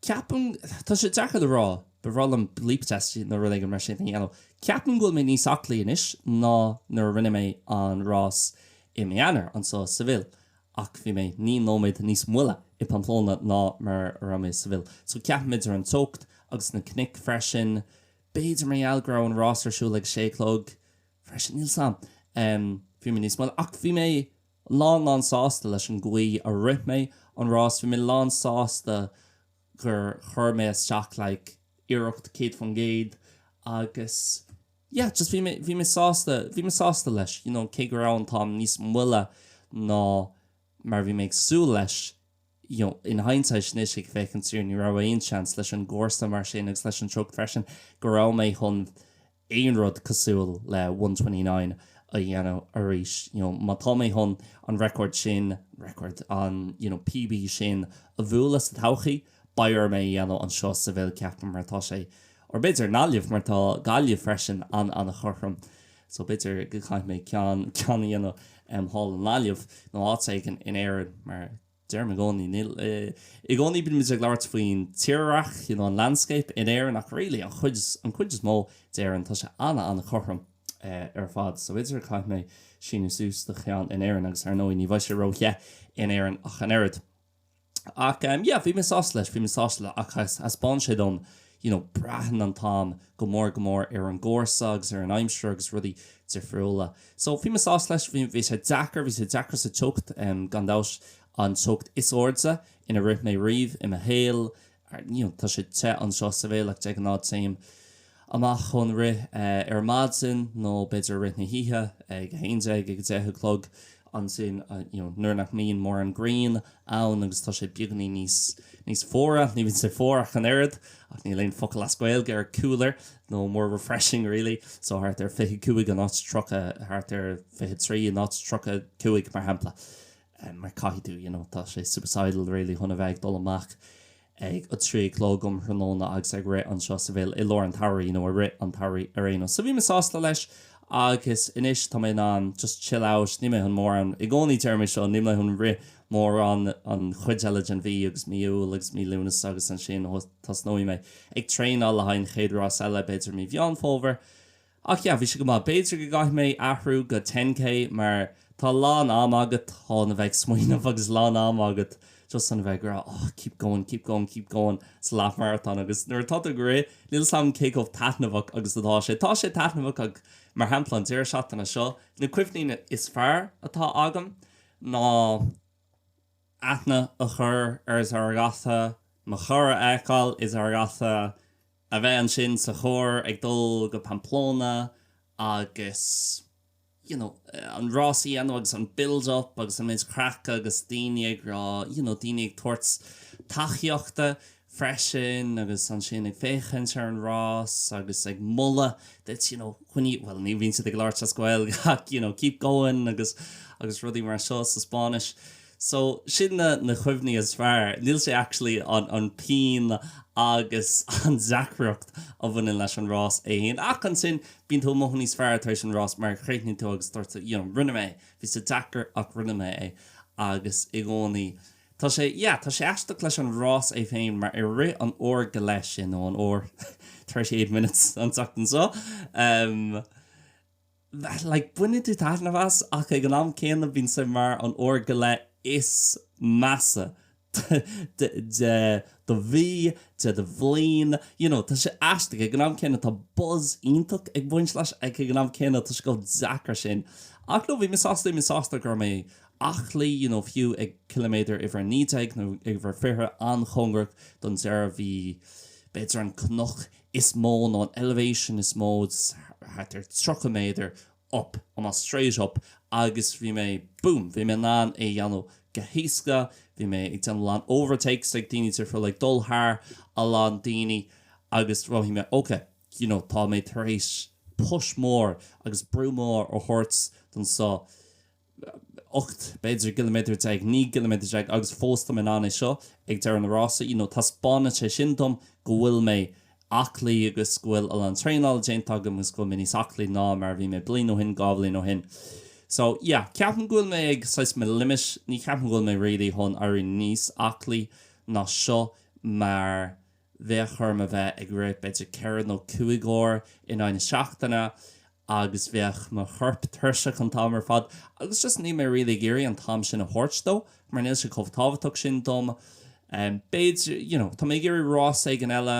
ceapaim, tá sé deacair le rá, ba bhreá liom bleep test nó rud éigin mar sin a dhéanamh, ceapaim go bhfuil mé níos aclaí anois ná nuair a rinne mé an rás i mí Eanáir anseo i Seville ach bhí mé naoi nóiméad níos moille i Pamplona ná mar a raibh mé i Seville. So ceapaim idir an teocht agus na cnoic freisin. B'fhéidir mar gheall go raibh an rás ar siúl ag a sé a chlog freisin, níl 's am. Bhí mé níos moille ach bhí mé lán lán sásta leis an gcaoi a rith mé an rás. Bhí mé lán sásta gur chuir mé isteach like iarracht 100% agus. yeah just bhí mé bhí mé sásta bhí mé sásta leis you know cé go raibh an t-am níos moille ná mar bhí mé ag súil leis you know in hindsight anois ag féachaint siar ní raibh aon seans leis an gcúrsa mar sin agus leis an teocht freisin go raibh mé chun aon rud cosúil le one twenty nine a dhéanamh arís you know má tá mé chun an record sin record an you know PB sin a bhualadh sa todhchaí Beidh orm é a dhéanamh anseo i Seville, ceapaim, mar tá sé, or b'fhéidir i nGaillimh, mar tá Gaillimh freisin an-an-chothrom. So b'fhéidir go gcaithfidh mé ceann, ceann a dhéanamh em thall i nGaillimh nó áit éigin in Éirinn mar deirim i gcónaí, níl, i gcónaí bímid ag labhairt faoin tírdhreach, you know, an landscape in Éirinn ach really an chuid is, an chuid is mó d'Éirinn tá sé an-an-chothrom eh ar fad. So b'fhéidir go gcaithfidh mé síniú suas do cheann in Éirinn agus ar ndóigh ní bheidh sé róthe in Éirinn ach an oiread. Ach yeah, bhí mé sásta leis, bhí mé sásta le ach thaispeáin sé dom you know braitheann an t-am go mór go mór ar an gcúrsa agus ar an aimsir agus rudaí difriúla. So bhí mé sásta leis, bhí bhí sé deacair, bhí sé deacair sa teocht em gan dabht, an teocht is airde ina rith mé riamh i mo shaol Ar ndóigh, tá sé te anseo i Seville ach de ghnáth téim amach chun rith ar maidin nó b'fhéidir i rith na hoíche ag a haon déag, ag a deich a chlog. Ansin nuair nach mbíonn mórán grian ann agus tá sé beagainín níos fuaire, ní bhíonn sé fuar ach an oiread ach níl aon focal as Gaeilge ar cooler, nó more refreshing really, so thart ar fiche cúig in áit tríocha, thart ar fiche trí in áit tríocha cúig mar shampla. eh mar caithfidh tú you know tá sé suicidal really chun a bheith ag dul amach ag a trí a chlog um thráthnóna agus ag rith anseo i Seville i lár an tsamhraidh you know i rith an tsamhraidh ar aon nós. So bhí mé sásta leis agus anois tá mé in ann just chill out níl mé chun mórán, i gcónaí deirim é seo, níl mé chun rith mórán an chuid eile den mhí agus mí Iúil agus mí Lúnasa agus ansin tosnóidh mé ag traenáil le haghaidh an chéad rás eile b'fhéidir mí Mheán Fómhair. Ach yeah, bhí sé go maith. B'fhéidir go gcaithfidh mé athrú go ten K mar tá a lán am agat chun a bheith ag smaoineamh agus a lán am agat just chun a bheith ag rá oh keep going, keep going, keep going sa leath marathon agus nuair atá tú ag rith níl 'fhios a'm cé chomh taitneamhach agus atá sé. Tá sé taitneamhach ach mar shampla an deireadh seachtaine seo na cuimhní is fearr atá agam ná aithne a chur ar Zaragoza, mo chara a fheiceáil i Zaragoza, a bheith ansin sa charr ag dul go Pamplona agus you know an rás a dhéanamh agus an build up agus an méid craic agus daoine ag rá you know daoine ag tabhairt tacaíochta freisin agus ansin ag féachaint ar an rás agus ag moladh duit you know coinnigh, bhuel ní bhíonn siad ag labhairt as Gaeilge ach you know keep going agus agus rudaí mar seo sa Spáinnis. So, sin na na cuimhní is fearr. Níl sé actually an an pian agus an deacracht a bhaineann leis an rás é fhéin ach ansin bíonn tú ag mothú níos fearr tar éis an rás mar chríochnaíonn tú agus deir tú you know rinne mé é. Bhí sé deacair ach rinne mé é agus i gcónaí tá sé yeah tá sé aisteach leis an rás é féin mar i rith an uair go leith sin nó an uair thirty eight minutes an tseachtain seo, em, like baineann tú taitneamh as ach ag an am céanna bíonn sé mar an uair go leith is measa de de do mhí de do bhliain you know tá sé aisteach ag an am céanna tá buzz iontach ag baint leis ach ag an am céanna tá sé chomh deacair sin ach nó bhí mé sásta bhí mé sásta go raibh mé aclaí you know fiú ag ciliméadar uimhir 19 nó uimhir 20 an-chóngarach don deireadh bhí b'fhéidir an cnoc is mó nó an elevation is mó thart ar 30 méadar up on a straight up agus bhí mé boom bhí mé in ann é a dhéanamh go héasca bhí mé ag déanamh a lán overtakes ag daoine tar thar like dul thar a lán daoine agus bhraith mé ok you know tá mé tar éis push mór agus brú mór a thabhairt don so ocht, b'fhéidir, gciliméadar déag, naoi gciliméadar déag agus fós táim in ann é seo ag deireadh an rása, you know, taispeánann sé sin dom go bhfuil mé aclaí agus go bhfuil a lán traenála déanta agam agus go bhfuil mé níos aclaí ná mar a bhí mé bliain ó shin, dhá bhliain ó shin. So, yeah, ceapaim go bhfuil mé ag, saghas, mo limit, ní cheapaim go bhfuil mé really chun éirí níos aclaí ná seo mar, yeah. Bheadh orm a bheith ag rith b'fhéidir ceithre nó cúig uair in aghaidh na seachtaine agus bheadh mo chorp tuirseach an t-am ar fad agus just níl mé really ag iarraidh an t-am sin a thabhairt dó mar níl sé chomh tábhachtach sin dom. B'fhéidir, you know, tá mé ag iarraidh rás éigin eile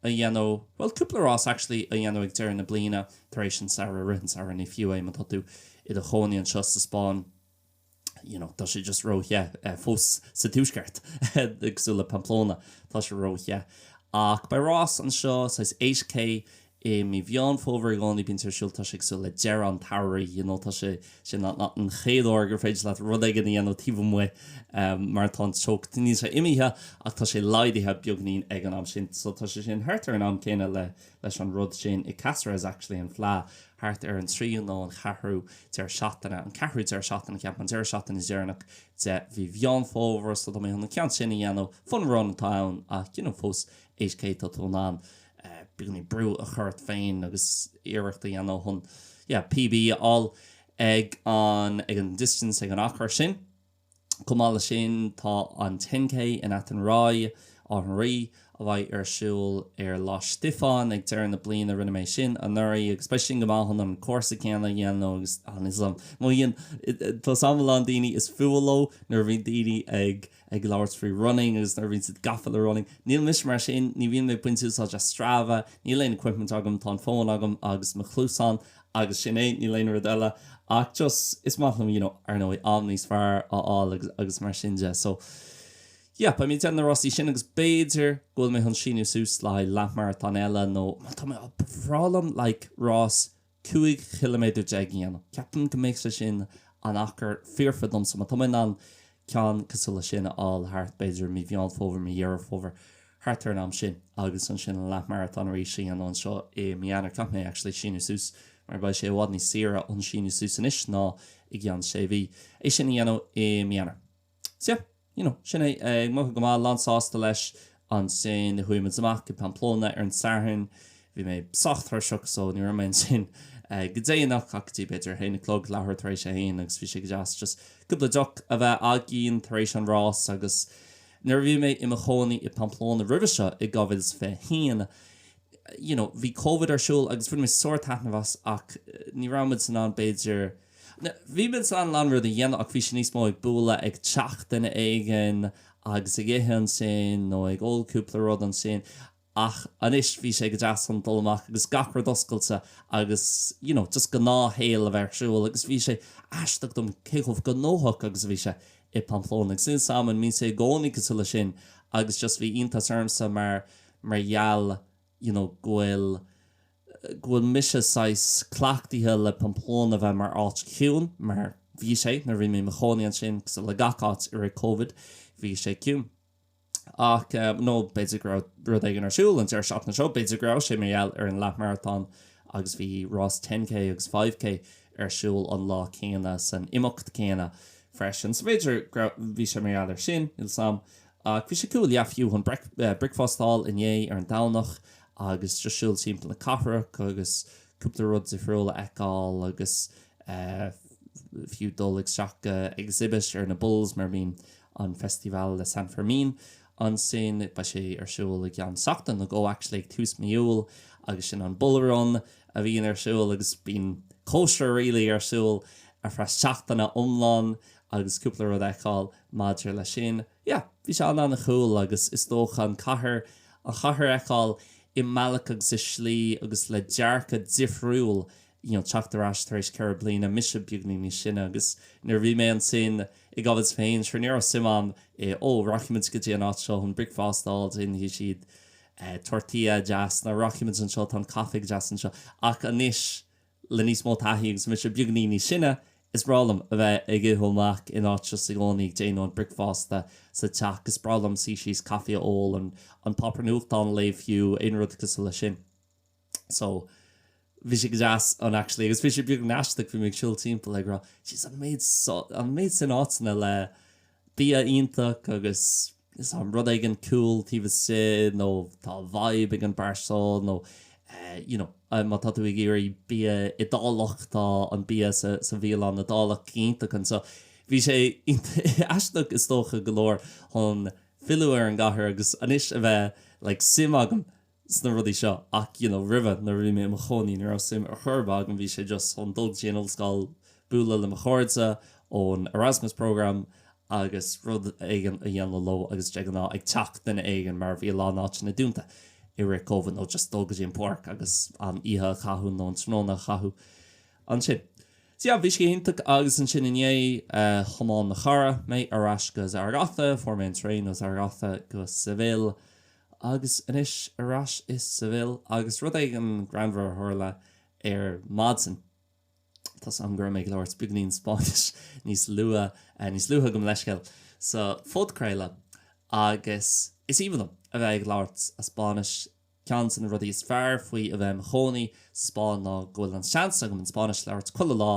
a dhéanamh, bhuel cúpla rás actually a dhéanamh ag deireadh na bliana tar éis an samhradh, i rith an tsamhraidh, ní fiú é má tá tú i do chónaí anseo sa Spáinn. you know tá sé just ró the fós sa tuaisceart cosúil le Pamplona tá sé ró the ach beidh rás anseo saghas 8K i mí Mheán Fómhair i gcónaí bíonn sé ar siúl tá sé cosúil le deireadh an tsamhraidh you know tá sé sin an an chéad uair gur féidir leat rud éigin a dhéanamh taobh amuigh um mar tá an teocht níl sé imithe ach tá sé laghdaithe beagainín ag an am sin so tá sé sin thart ar an am céanna le leis an rud sin i Cáceres actually an fleadh thart ar an tríú nó an cheathrú deireadh seachtaine an ceathrú deireadh seachtaine cheapfainn an deireadh seachtaine dheireanach de mhí Mheán Fómhair so tá mé chun an ceann sin a dhéanamh fun run atá ann ach you know fós 8K tá tú in ann beagainín brú a chur ort féin agus iarracht a dhéanamh chun yeah PB a fháil ag an ag an distance ag an achar sin. Chomh maith leis sin tá an 10K in Athenry, Áth an Rí, a bheidh ar siúl ar Lá Stiofáin ag deireadh na bliana. Rinne mé sin anuraidh agus beidh sin go maith chun an cúrsa céanna a dhéanamh agus is liom. I mean, tá 's agam a lán daoine is fuath leo nuair a bhíonn daoine ag ag labhairt faoi running agus nuair a bhíonn siad gafa le running. Níl mise mar sin, ní bhíonn mé ag baint úsáid as Strava, níl aon equipment agam, tá an fón agam agus mo chluasáin agus sin é, níl aon rud eile ach just is maith liom, you know, ar ndóigh, am níos fearr a fháil agus, agus mar sin de. So, yep, I mean, déanfaidh mé na rásaí sin agus b'fhéidir go bhfuil mé chun síniú suas le haghaidh leathmharatón eile nó, má tá mé, oh, ba bhreá liom like rás cúig chiliméadar déag a dhéanamh. Ceapaim go mbeadh sé sin an achar foirfe domsa, má tá mé in ann ceann cosúil leis sin a fháil thart b'fhéidir i mí Mheán Fómhair, mí Dheireadh Fómhair. thart ar an am sin agus ansin an leathmharatón arís a dhéanamh anseo i mí Eanáir. Caithfidh mé actually síniú suas mar beidh sé i bhfad níos saoire síniú suas anois ná i gceann sé mhí. É sin a dhéanamh i mí Eanáir. So yeah, you know, sin é. Ag mothú go maith, lán sásta leis. Ansin chuaigh muid amach go Pamplona ar an Satharn. Bhí mé sách tuirseach so ní raibh mé ansin go déanach ach go dtí b'fhéidir a haon a chlog, leathuair tar éis a haon agus bhí sé go deas just cúpla deoch a bheith againn tar éis an rás agus, Nuair a bhí mé i mo chónaí i bPamplona roimhe seo, in 2021, you know bhí Covid ar siúl agus bhain muid sár taitneamh as ach ní raibh muid in ann b'fhéidir, no, bhí muid in ann a lán rudaí a dhéanamh ach bhí sé níos mó ag bualadh ag teach duine éigin agus ag ithe ansin nó ag ól cúpla rud ansin ach anois bhí sé go deas chun dul amach agus gach rud oscailte agus you know just gnáthshaol a bheith ar siúl agus bhí sé aisteach dom cé chomh gnóthach agus a bhí sé i bPamplona agus níl 's agam an mbíonn sé i gcónaí cosúil leis sin agus just bhí iontas ormsa mar mar gheall you know go bhfuil go bhfuil mise saghas cleachtaithe le Pamplona bheith mar áit chiúin mar bhí sé nuair a bhí mé i mo chónaí ansin cosúil le gach áit i rith Covid bhí sé ciúin. ach nó b'fhéidir go raibh rud éigin ar siúl an deireadh seachtaine seo, b'fhéidir go raibh sé mar gheall ar an leathmharatón agus bhí rás ten K agus five K ar siúl an lá céanna san imeacht céanna freisin, so b'fhéidir go raibh, bhí sé mar gheall ar sin, níl 's am. Ach bhí sé cool, yeah, fiú chun bricfeasta a fháil inné ar an Domhnach agus just siúl timpeall na cathrach agus cúpla rud difriúil a fheiceáil agus fiú dul isteach go exhibit ar na bulls mar a bhíonn an Festival de San Fermín. Ansin beidh sé ar siúl i gceann seachtain nó go actually ag tús mí Iúil agus sin an Bull Run a bhíonn ar siúl agus bíonn cóisir really ar siúl ar feadh seachtaine iomlán agus cúpla rud a fheiceáil maidir leis sin. Yeah, bhí sé an- an-cool agus is dócha an cathair, an chathair a fheiceáil i mbealach agus i slí agus le dearcadh difriúil you know teacht ar ais tar éis ceithre bliana, mise beagáinín níos sine agus nuair a bhí mé ansin i gCovid féin, sure ní raibh suim a'm i oh rachaidh muid go dtí an áit seo chun bricfeasta a fháil, déanfaidh siad eh tortilla deas nó rachaidh muid anseo tá an caife deas anseo ach anois le níos mó taithí agus mise beagáinín níos sine, is breá liom a bheith ag ithe amach in áit just i gcónaí ag déanamh an bricfeasta sa teach, is breá liom suí síos caife a ól, an an páipéar nuachtáin a léamh fiú, aon rud cosúil leis sin. So bhí sé go deas ann actually agus bhí sé beagán aisteach bhí mé ag siúl timpeall ag rá jeez an méid an méid sin áiteanna le bia iontach agus is ann rud éigin cool taobh istigh nó tá vibe ag an bar seo nó you know má tá tú ag iarraidh bia Iodálach tá an bia sa sa bhialann Iodálach iontach anseo. Bhí sé aisteach is dócha go leor chun filleadh ar an gcathair agus anois a bheith like suim agam sna rudaí seo ach you know roimhe nuair a bhí mé i mo chónaí ní raibh suim ar chor ar bith agam bhí sé just chun dul go dtí an ollscoil bualadh le mo chairde ón Erasmus programme agus rud éigin a dhéanamh leo agus de ghnáth ag teach duine éigin mar bhí a lán áiteanna dúnta i rith Covid nó just dul go dtí an pháirc agus an oíche a chaitheamh nó an tráthnóna a chaitheamh ansin so yeah bhí sé iontach agus ansin inné thiomáin mo chara mé ar ais go Zaragoza fuair mé an traein ó Zaragoza go Seville Agus anois ar ais i Seville agus rud éigin greannmhar a tharla ar maidin. Tá súil agam go raibh mé ag labhairt beagáinín Spáinnis níos luath, níos luaithe gabh mo leithscéal, sa phodchraoladh agus is aoibhinn liom a bheith ag labhairt as Spáinnis. Ceann de na rudaí is fearr faoi a bheith i mo chónaí sa Spáinn ná go bhfuil an seans agam an Spáinnis a labhairt chuile lá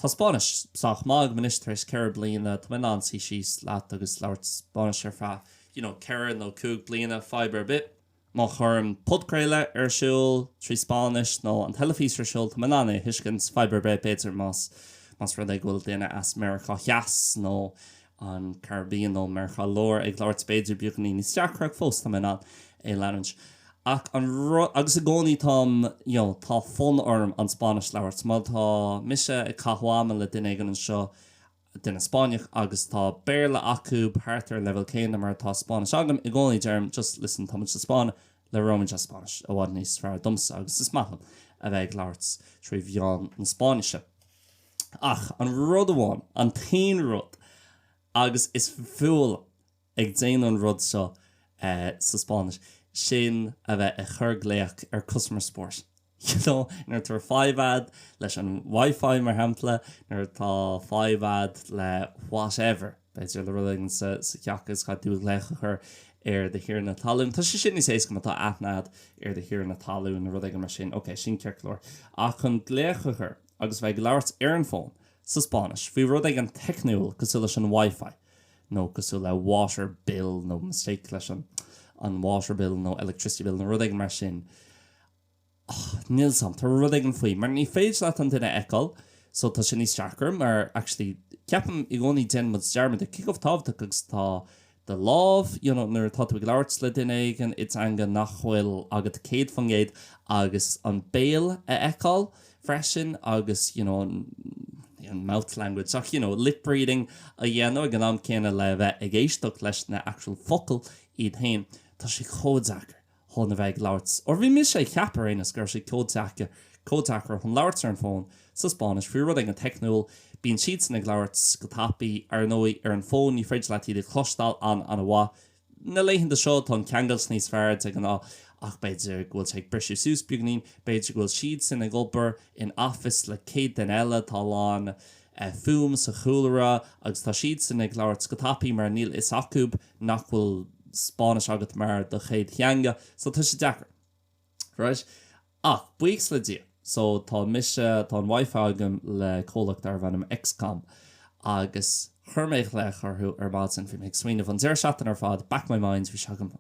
Tá Spáinnis sách maith agam anois tar éis ceithre bliana. Tá mé in ann suí síos leat agus labhairt Spáinnis ar feadh you know ceithre nó cúig bliana, fadhb ar bith. Má chuirim podchraoladh ar siúl trí Spáinnis nó an teilifís ar siúl, tá mé in ann é a thuiscint, fadhb ar bith. B'fhéidir más más rud é go bhfuil daoine as Meiriceá Theas nó an Caribbean nó Meiriceá Láir ag labhairt b'fhéidir beagáinín níos deacra ach fós táim in ann é a leanúint ach an rud agus i gcónaí táim you know tá fonn orm an Spáinnis a labhairt má tá mise ag caitheamh ama le duine éigin anseo duine Spáinneach agus tá Béarla acu thart ar an leibhéal céanna mar atá Spáinnis agam i gcónaí deirim just listen tá muid sa Spáinn labhróimid as Spáinnis i bhfad níos fearr domsa agus is maith liom a bheith ag labhairt trí mheán na Spáinnise. Ach an rud amháin, an t-aon rud, agus is fuath liom a bheith ag déanamh an rud seo sa Spáinnis, sin a bheith ag cur glaoch ar customer support. You know, nuair atá fadhb a'd leis an wifi mar shampla, nuair atá fadhb a'd le whatever, b'fhéidir le rud éigin sa theach is caithfidh tú glaoch a chur ar do thiarna talún. Tá sé sin níos éasca má tá aithne a'd ar do thiarna talún nó rud éigin mar sin. Ok, sin ciorclóir. Ach chun glaoch a chur. agus a bheith ag labhairt ar an bhfón, sa Spáinnis, faoi rud éigin teicniúil cosúil leis an WiFi nó cosúil le water bill nó mistake leis an water bill nó electricity bill nó rud éigin mar sin. Och, níl 's a'm, tá rud éigin faoi mar ní féidir leat an duine a fheiceáil so tá sé sin níos deacra mar actually ceapaim i gcónaí déanann muid dearmad de cé chomh tábhachtach agus atá do lámh, you know nuair atá tú ag labhairt le duine éigin i dteanga nach bhfuil agat céad faoin gcéad agus an béal a fheiceáil freisin agus you know an mouth language ach you know lip-reading a dhéanamh ag an am céanna le bheith ag éisteacht leis na actual focail iad féin, tá sé chomh deacair chun a bheith ag labhairt or bhí mise ag ceapadh ar aon nós go raibh sé chomh deacair chun labhairt ar an bhfón sa Spáinnis faoi rud éigin teicniúil bíonn siadsan ag labhairt go tapaidh ar ndóigh ar an bhfón ní féidir leat iad a chloisteáil an-mhaith na laethanta seo tá an ceangal níos fearr de ghnáth ach b'fhéidir go bhfuil sé ag briseadh suas beagainín b'fhéidir go bhfuil siadsan ag obair in office le 100 duine eile tá a lán fuaim sa chúlra agus tá siadsan ag labhairt go tapaidh mar níl fhios acub nach bhfuil Spáinnis agat mar do chéad theanga so tá sé deacair right ach buíochas le Dia so tá mise tá an WiFi agam le comhlacht darbh ainm XCOM agus chuir mé glaoch orthu ar maidin bhí mé ag smaoineamh an deireadh seachtaine ar fad back my mind bhí sé agam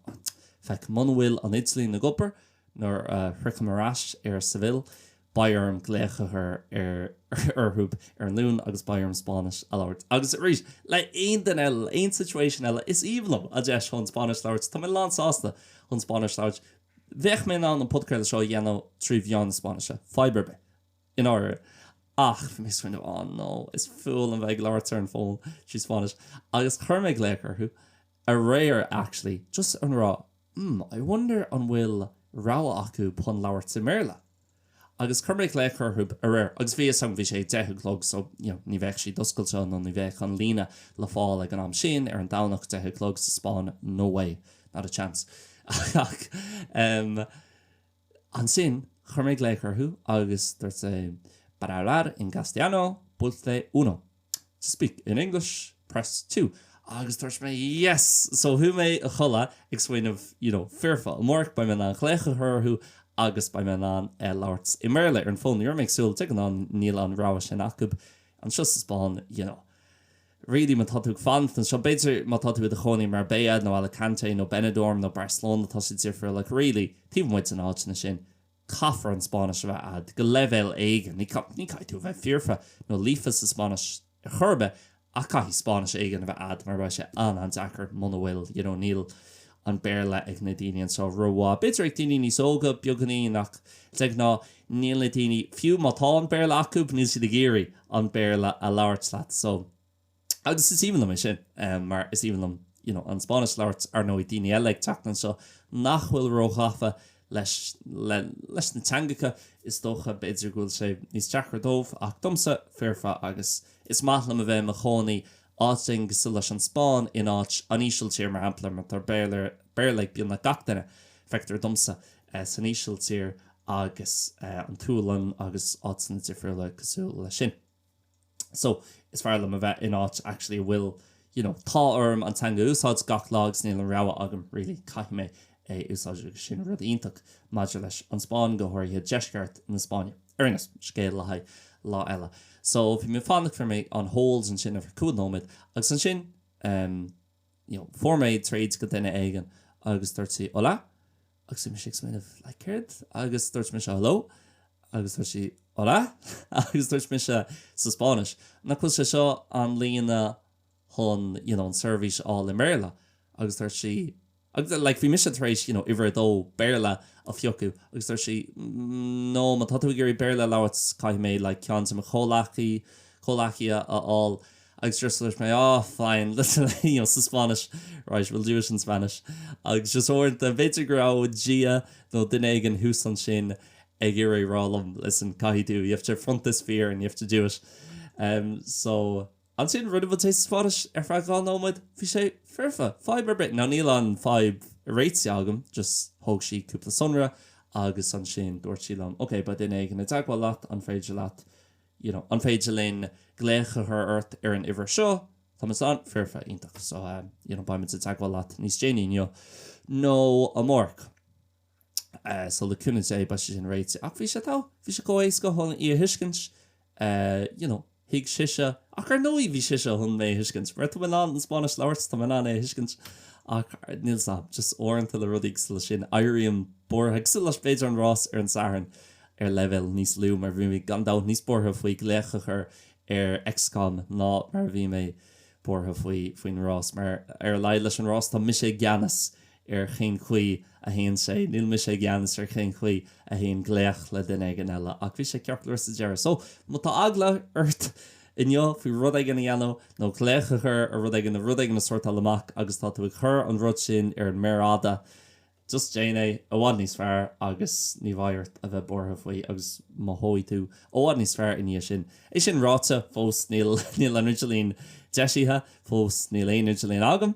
feic muna bhfuil an idirlíon ag obair nuair a shroichim ar ais ar Seville beidh orm glaoch a chur ar orthu ar an Luan agus beidh orm Spáinnis a labhairt. Agus arís, le aon duine eile, le aon situation eile, is aoibhinn liom an deis chun Spáinnis a labhairt. Tá mé lán sásta chun Spáinnis a labhairt. Bheadh mé in ann an podchraoladh seo a dhéanamh trí mheán na Spáinnise, fadhb ar bith, i ndáiríre. Ach bhí mé ag smaoineamh, oh no, is fuath liom bheith ag labhairt ar an fón trí Spáinnis. Agus chuir mé glaoch orthu aréir actually, just ag rá. mm I wonder an bhfuil rogha acu chun labhairt i mBéarla? Agus chuir mé glaoch orthu aréir agus bhí fhios agam bhí sé a deich a chlog so you know ní bheadh siad oscailte nó ní bheadh an líne le fáil ag an am sin ar an Domhnach deich a chlog sa Spáinn no way not a chance ach em Ansin chuir mé glaoch orthu agus dúirt sé Para hablar en castellano, pulse uno. To speak in English, press two. Agus dúirt mé Yes! So chuaigh mé a chodladh ag smaoineamh, you know, foirfe amárach, beidh mé in ann glaoch a chur orthu agus beidh mé in ann labhairt i mBéarla ar an bhfón. Ní raibh mé ag súil, de ghnáth níl an rogha sin acu anseo sa Spáinn, you know. really má tá tú ag fanacht anseo b'fhéidir má tá tú i do chónaí i Marbella nó Alicante nó Benidorm nó Barcelona tá sé difriúil ach really taobh amuigh de na háiteanna sin caithfear an Spáinnis a bheith a'd go leibhéal éigin ní ní caithfidh tú a bheith foirfe nó líofa sa Spáinnis ar chor ar bith ach caithfidh Spáinnis éigin a bheith a'd mar beidh sé an-an-deacair muna bhfuil you know níl an Béarla ag na daoine anseo rómhaith. B'fhéidir ag daoine níos óga beagáinín ach de ghnáth níl na daoine, fiú má tá an Béarla acu, níl siad ag iarraidh an Béarla a labhairt leat. So. agus is aoibhinn liom é sin mar is aoibhinn liom you know an Spáinnis a labhairt. Ar ndóigh daoine eile ag teacht anseo nach bhfuil róghafa leis leis na teangacha is dócha b'fhéidir go bhfuil sé níos deacra dóibh ach domsa foirfe agus is maith liom a bheith i mo chónaí áit éigin cosúil leis an Spáinn in áit an Ísiltír mar shampla mar tá Béarla ag beagnach gach duine, feictear domsa, san Ísiltír agus an tSualainn agus áiteanna difriúla cosúil leis sin. So, is fearr liom a bheith in áit actually a bhfuil you know tá orm an teanga a úsáid gach lá agus níl an rogha agam really caithfidh mé a úsáid agus sin rud iontach maidir leis an Spáinn, go háirithe deisceart na Spáinne. Ar aon nós, scéal le haghaidh lá eile. So, bhí mé ag fanacht, fuair mé on hold ansin ar feadh cúpla nóiméad agus ansin ehm you know fuair mé tríd go duine éigin agus dúirt sí hola agus bhí mise ag smaoineamh like céard agus dúirt mise hello agus dúirt sí hola agus dúirt mise sa Spáinnis nach bhfuil sé seo an líne chun you know an seirbhís a fháil i mBéarla agus dúirt sí agus like bhí mise tar éis you know uimhir a dó Béarla a phiocadh agus dúirt sí no má tá tú ag iarraidh Béarla a labhairt caithfidh mé like ceann de mo chomhghleacaí comhghleacaí a a fháil agus just dúirt mé ah fine listen you know sa Spáinnis right we'll do it in Spanish agus just uaireanta b'fhéidir go raibh Dia nó duine éigin thuas ansin ag iarraidh rá liom listen caithfidh tú you have to front this fear and you have to do it em so Ansin rinne muid é as Spáinnis ar feadh dhá nóiméad, bhí sé foirfe, fadhb ar bith, now níl an fhadhb réitithe agam, just thóg sí cúpla sonra agus ansin dúirt sí liom, ok, beidh duine éigin i dteagmháil leat, an féidir leat, you know, an féidir linn glaoch a chur ort ar an uimhir seo? Tá muid ann, foirfe, iontach, so, you know, beidh muid i dteagmháil leat níos déanaí inniu nó amárach. so le cúnamh Dé beidh sé sin réite. Ach bhí sé togha, bhí sé chomh éasca chun í a thuiscint. You know, thuig sise. Ach ar ndóigh bhí sise chun mé a thuiscint. Mar tá mé in ann an Spáinnis a labhairt, tá mé in ann é a thuiscint. Ach níl fhios a'm, just uaireanta le rudaí cosúil leis sin éirím buartha, cosúil le b'fhéidir an rás ar an Satharn ar leibhéal níos lú mar bhí mé gan dabht níos buartha faoi glaoch a chur ar X-Con ná mar a bhí mé buartha faoi, faoin rás. Mar ar a laghad leis an rás tá mise i gceannas ar chén chaoi a théann sé. Níl mise i gceannas ar chén chaoi a théann glaoch le duine éigin eile ach bhí sé ceart go leor sa deireadh. So, má tá eagla ort inniu faoi rud éigin a dhéanamh nó glaoch a chur ar rud éigin nó rud éigin a sortáil amach agus tá tú ag cur an rud sin ar an méar fhada, just déan é, i bhfad níos fearr agus ní bheidh ort a bheith buartha faoi agus mothóidh tú i bhfad níos fearr i ndiaidh sin. É sin ráite, fós níl an idirlíon deisithe, fós níl aon idirlíon agam.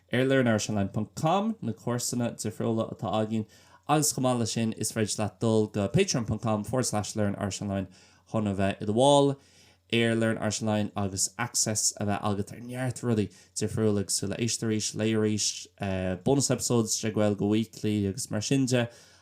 Ar learnirishonline.com na cúrsaí difriúla atá againn agus chomh maith leis sin is féidir leat dul go patreon.com forward slash learnirishonline chun a bheith i do bhall ar learnirishonline agus access a bheith agat ar neart rudaí difriúla cosúil le éist arís, léigh arís, bonus episodes de Gaeilge Weekly agus mar sin de.